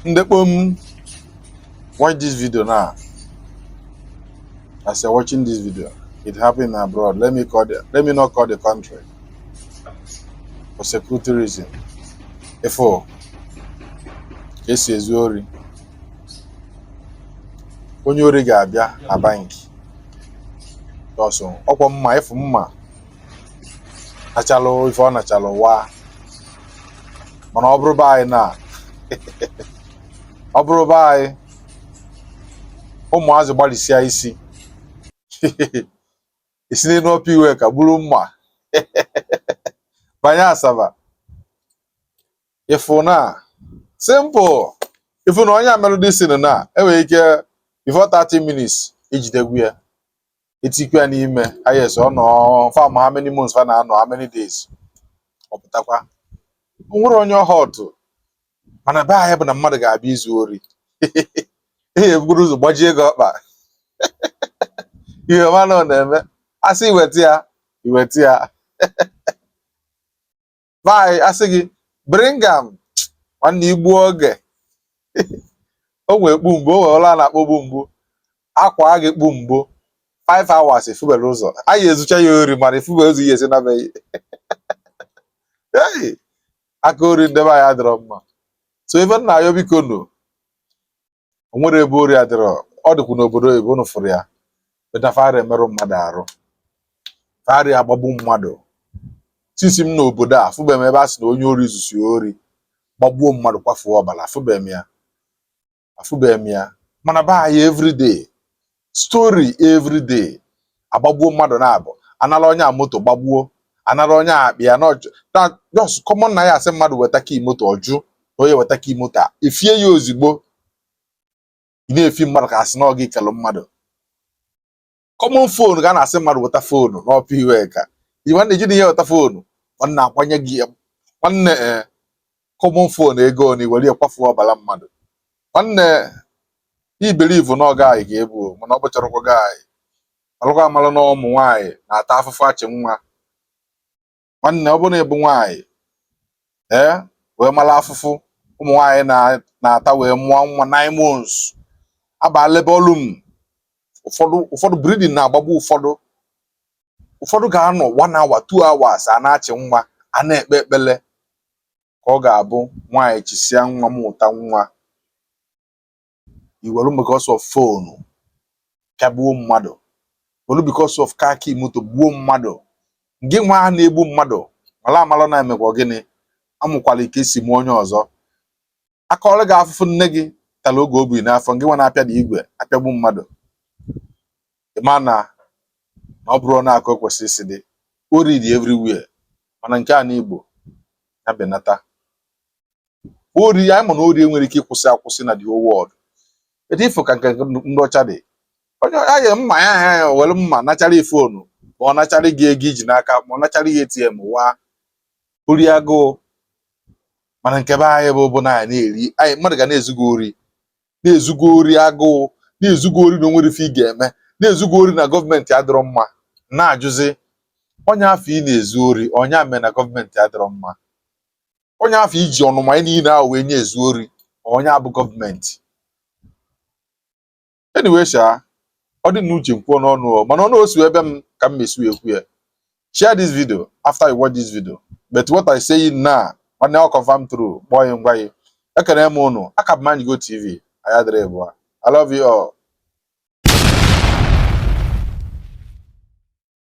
ndị kpom watch this video now as you're watching this video it happened abroad let me call the, let me not call the country for security reason ị fụ ka esi ezu ori onye ori ga-abịa na banki ọsọ ọkwa mma ịfụ mma nachalụ ife ọ nachalụ waa mana ọ bụrụ be anyị na ọ bụrụ be anyị ụmụazị gbalịsịa isi isi n'elu Upper Iweka gburu mma banye Asaba ịfụ na simple ịfụ na onye a melụdị sin na enwere ike before 30 minutes ejidegwu ya etikwa ya n'ime yes ọ nọ fam how many months fa na-anọ how many days ọ pụtakwa o nwere onye ọ hurtụ mana be anyị bụ na mmadụ ga-abịa izu ori ihe ebugoro ụzọ gbajie gị ọkpa i wee ma na ọ na-eme asị iweta ya iweta ya be anyị asị gị bring am nwanne igbu oge o nwee kpu mgbu o nwee ụla a na-akpọ kpu mgbu akwa gị kpu mgbu 5 hours ị fụberọ ụzọ anyị ezucha ya ori mana ị fụberọ ụzọ ihe esi na be gị ei aka ori ndebe anyị adịrọ mma so ife m na-ayọ biko nu o nwere ebe ori adịrọ ọ dịkwu n'obodo oyibo unu fụrụ ya but na fa arị emerụ mmadụ arụ fa arị agbagbu mmadụ since m n'obodo a afụbeghị m ebe a sị na onye ori zusi ori gbagbuo mmadụ kwafuo ọbala afụbeghị m ya afụbeghị m ya mana be anyị everyday story every day agbagbuo mmadụ na-abụ anara onye a moto gbagbuo anara onye a akpa ya na ọjụ na just common na ya asị mmadụ weta key moto ọ jụ na onye weta key moto a efie ya ozigbo ị na-efi mmadụ ka asị na ọ gị kelụ mmadụ common fonu ka a na-asị mmadụ weta fonu n'Upper Iweka iwe na-eji na ihe weta fonu nwanne akwanye gị ya nwanne eh, common phone ego na iwere ya kwafuo ọbala mmadụ nwanne ị believe na ọga anyị ga-ebu mana ọ bụcharakwa gị anyị alụkwa amalụ na ụmụ nwaanyị na-ata afụfụ achị nwa nwanne ọ bụrụ na ịbụ nwaanyị ee wee mara afụfụ ụmụ nwaanyị na-ata wee mụọ nwa nine months abaa labour room ụfọdụ ụfọdụ bleeding na-agbagbu ụfọdụ ụfọdụ ga-anọ one hour two hours a na-achị nwa a na-ekpe ekpele ka ọ ga-abụ nwaanyị chisịa nwa mụta nwa i welu because of foonu pịagbuo mmadụ welu because of car key moto gbuo mmadụ gị nwa ahụ na-egbu mmadụ mala amala na e mekwa gịnị a mụkwara ị ka e si mụọ onye ọzọ a kọọrọ gị afụfụ nne gị tala oge o bu ị n'afọ gị nwa na-apịa na igwe apịagbu mmadụ ị ma na ọ bụrụ na akụ kwesịrị isi dị ori dị everywhere mana nke ana Igbo ya benata ori anyị ma na ori enwerọ ike ịkwụsị akwụsị na the whole world etu ị fụ ka nke ndị ọcha dị onye ya ga mma ya ha ya were mma nachara ị foonu ma ọ nachara gị ego i ji n'aka ma ọ nachara gị ATM waa ori agụụ mana nke be anyị bụ bụ na anyị na-eri anyị mmadụ ga na-ezu gị ori na-ezu gị ori agụụ na-ezu gị ori na o nwerọ ife ị ga-eme na-ezu gị ori na gọọmenti adịrọ mma na-ajụzi onye afụ ị na-ezu ori ọ nya mee na gọọmenti adịrọ mma onye afụ i ji ọnụma anyị niile ahụ wee na-ezu ori ọ nya bụ gọọmenti anyway sha ọ dị n'uche m kwuo n'ọnụ o mana ọnụ o si abịa m ka m esi ekwu ya share this video after you watch this video but what I say na nwanne ọ confirm true kpọọ ya ngwa ya ekene m ụnụ ọ ka bụ manyigo tv anyị adịrọ ịbụa I love you all